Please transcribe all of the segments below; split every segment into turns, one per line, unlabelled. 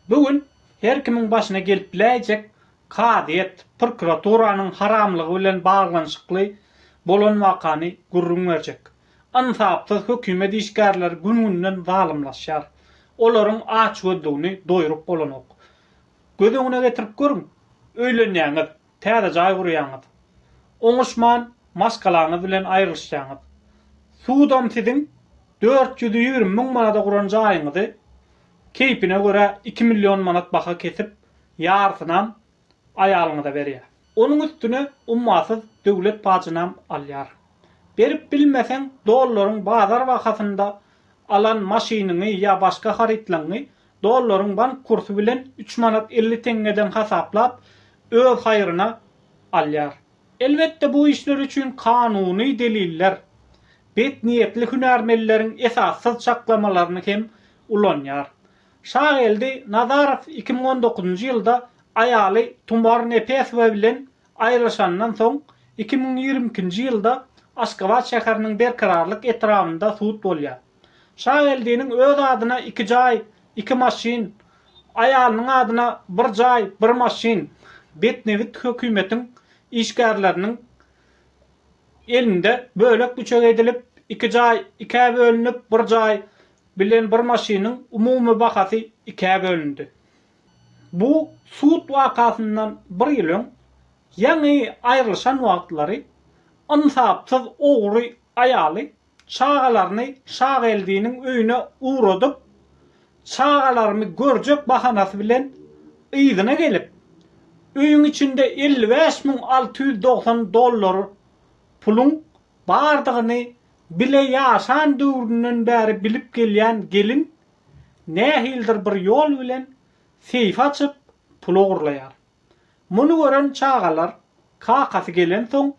Bu gün her kimiň başyna gelip biläýjek kazyýet, prokuraturanyň haramlygy bilen baglanyşykly bolan wakany gürrüň berjek. Ynsapsyz hökümet işgärleri gün-günden zalymlaşýar. Olaryň açgözlügini doýrup bolanok. Göz öňüne getirip görüň, öýlenýäňiz, Täze jaý gurýaňyz. Oňuşman maşgalaňyz bilen aýrylyşýaňyz. Sudam siziň dört ýüz ýigrimi müň manada guran jaýyňyzy keýpine görä iki million manat baha kesip, ýarysynam aýalyňyza berýär. Onuň üstüne ummasyz döwlet pajynam alýar. Berip bilmeseň, dollaryň bazar bahasynda alan maşynyňy ýa başga harytlaňňy dollaryň bank kursy bilen üç manat elli teňňeden hasaplap, öz haýryna alýar. Elbetde, bu işler üçin kanuny deliller, betniýetli hünärmenleriň esassyz çaklamalaryny hem ulanýar. Şageldi Nazarow iki müň on dokuzynjy ýylda aýaly Tumar Nepesowa bilen aýrylyşandan soň, iki müň ýigrimi ikinji ýylda Aşgabat şäheriniň Berkararlyk etrabynda sud bolýar. Şageldiniň öz adyna iki jaý, iki maşyn, aýalynyň adyna bir jaý, bir maşyn betnebit hökümetiň işgärleriniň elinde bölek-büçek edilip, iki jaý ikä bölünip, bir jaý bilen bir maşynyň umumy bahasy ikä bölündi. Bu sud wakasyndan bir ýyl öň, ýaňy aýrylyşan wagtlary ynsapsyz ogry aýaly Çagalaryny Şageldiniň öýüne ugradyp, çagalarymy görjek bahanasy bilen yzyna gelip, öýüň içinde elli bäş müň alty ýüz dogsan dollar puluň bardygyny bile ýaşan döwründen bäri bilip gelýän gelin nähilidir bir ýol bilen seýfi açyp, pul ogurlaýar. Muny gören çagalar kakasy gelensoň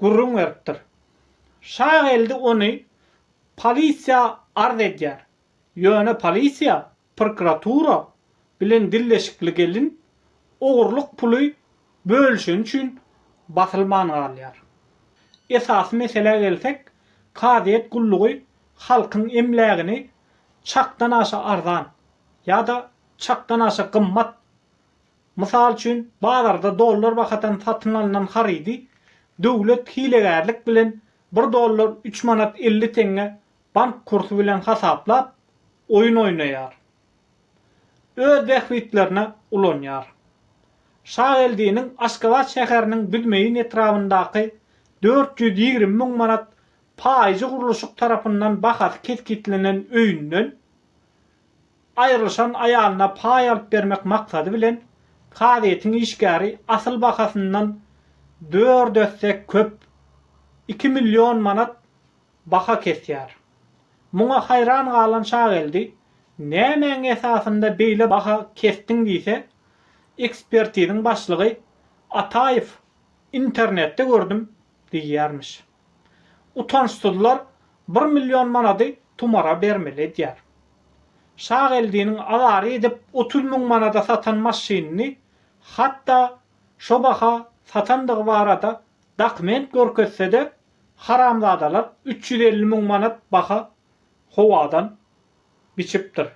gürrüň beripdir. Şageldi ony polisiýa arz edýär. Ýöne polisiýa, prokuratura, bilen dilleşikli gelin ogurlyk puly bölüşeni üçin basylman galýar. Esasy meselä gelsek, kazyýet gullugy halkyň emlägini çakdan aşa arzan ýa-da çakdan aşa gymmat. Mysal üçin, bazarda dollar bahadan satyn alnan harydy döwlet hilegärlik bilen bir dollar üç manat elli teňňe bank kursy bilen hasaplap, oýun oýnaýar. Öz bähbitlerine ulanýar. Şageldiniň Aşgabat şäheriniň Büzmeýin etrabyndaky dört ýüz ýigrimi müň manat paýyjy gurluşyk tarapyndan bahasy kesgitlenen öýünden, Aýrylyşan aýalyna paý alyp bermek maksady bilen, kazyýetiň işgäri asyl bahasyndan dört esse köp, iki million manat, baha kesýär. Muňa haýran galan Şageldi, Nämäň esasynda beýle baha kesdiň diýse, ekspertiziň başlygy Ataýew, Internetde gördüm diýýärmiş. Utançsyzlar bir million manady tumara bermeli edýär. Şageldiniň azary edip otuz müň manada satan maşynyny hatda şo baha satandygy barada dokument görkezse-de haramzadalar üç ýüz elli müň manat baha howadan biçipdir.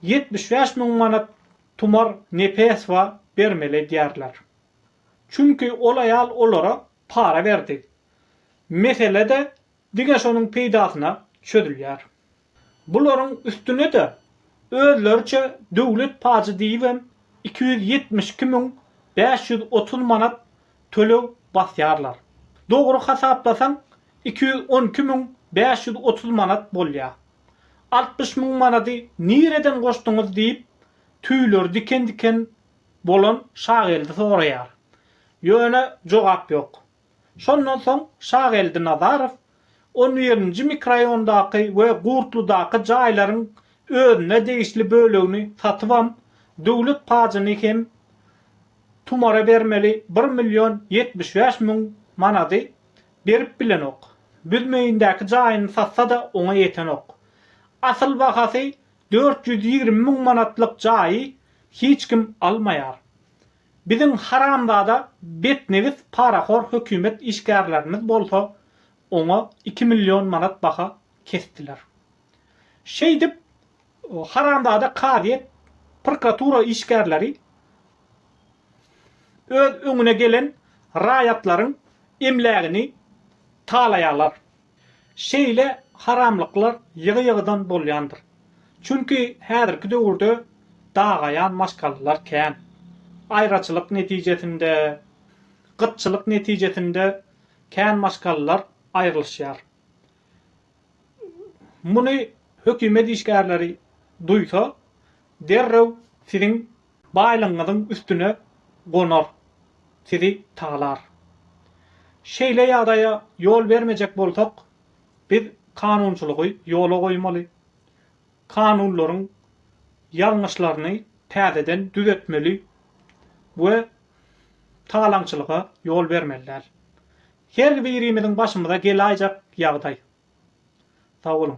Ýetmiş bäş müň manat tumar Nepesowa bermeli edýärler. Çünki ol aýal olara para berdi. Mesele-de diňe şonuň peýdasyna çözülýär. Bularyň üstüne-de özleriçe döwlet pajy diýibem iki ýüz ýetmiş iki müň bäş ýüz otuz manat töleg basýarlar. Dogry hasaplasaň, iki ýüz on iki müň bäş ýüz otuz manat bolýar. Altmyş müň manady nireden goşduňyz diýip, tüýleri diken-diken bolan Şageldi soraýar. Ýöne jogap ýok. Şondan soň Şageldi Nazarow on birinji mikroýondaky we Gurtludaky jaýlaryň özüne degişli bölegini satybam, döwlet pajyny hem tumara bermeli bir million ýetmiş bäş müň manady berip bilenok. Büzmeýindäki jaýyny satsa-da oňa ýetenok. Asyl bahasy Dört ýüz ýigrimi müň manatlyk jaýy hiç kim almaýar. Biziň haramzada betnebis parahor hökümet işgärlerimiz bolsa oňa iki million manat baha kesdiler. Şeýdip haramzada kazyýet, prokuratura işgärleri öz öňüne gelen raýatlaryň emlägini talaýarlar. Şeýle haramlyklar ýygy-ýygydan bolýandyr. Çünki häzirki döwürde dagaýan maşgalalar kän. Aýraçylyk netijesinde, gytçylyk netijesinde kän maşgalalar aýrylyşýar. Muny hökümet işgärleri duýsa, derrew siziň Baýlygyňyzyň üstüne gonar, sizi talar. Şeýle ýagdaýa ýol bermejek bolsak, biz kanunçylygy ýola goýmaly, kanunlaryň ýalňyşlaryny täzeden düzetmeli we talaňçylyga ýol bermeli däl. Her birimiziň başymyza geläýjek ýagdaý. Sag boluň.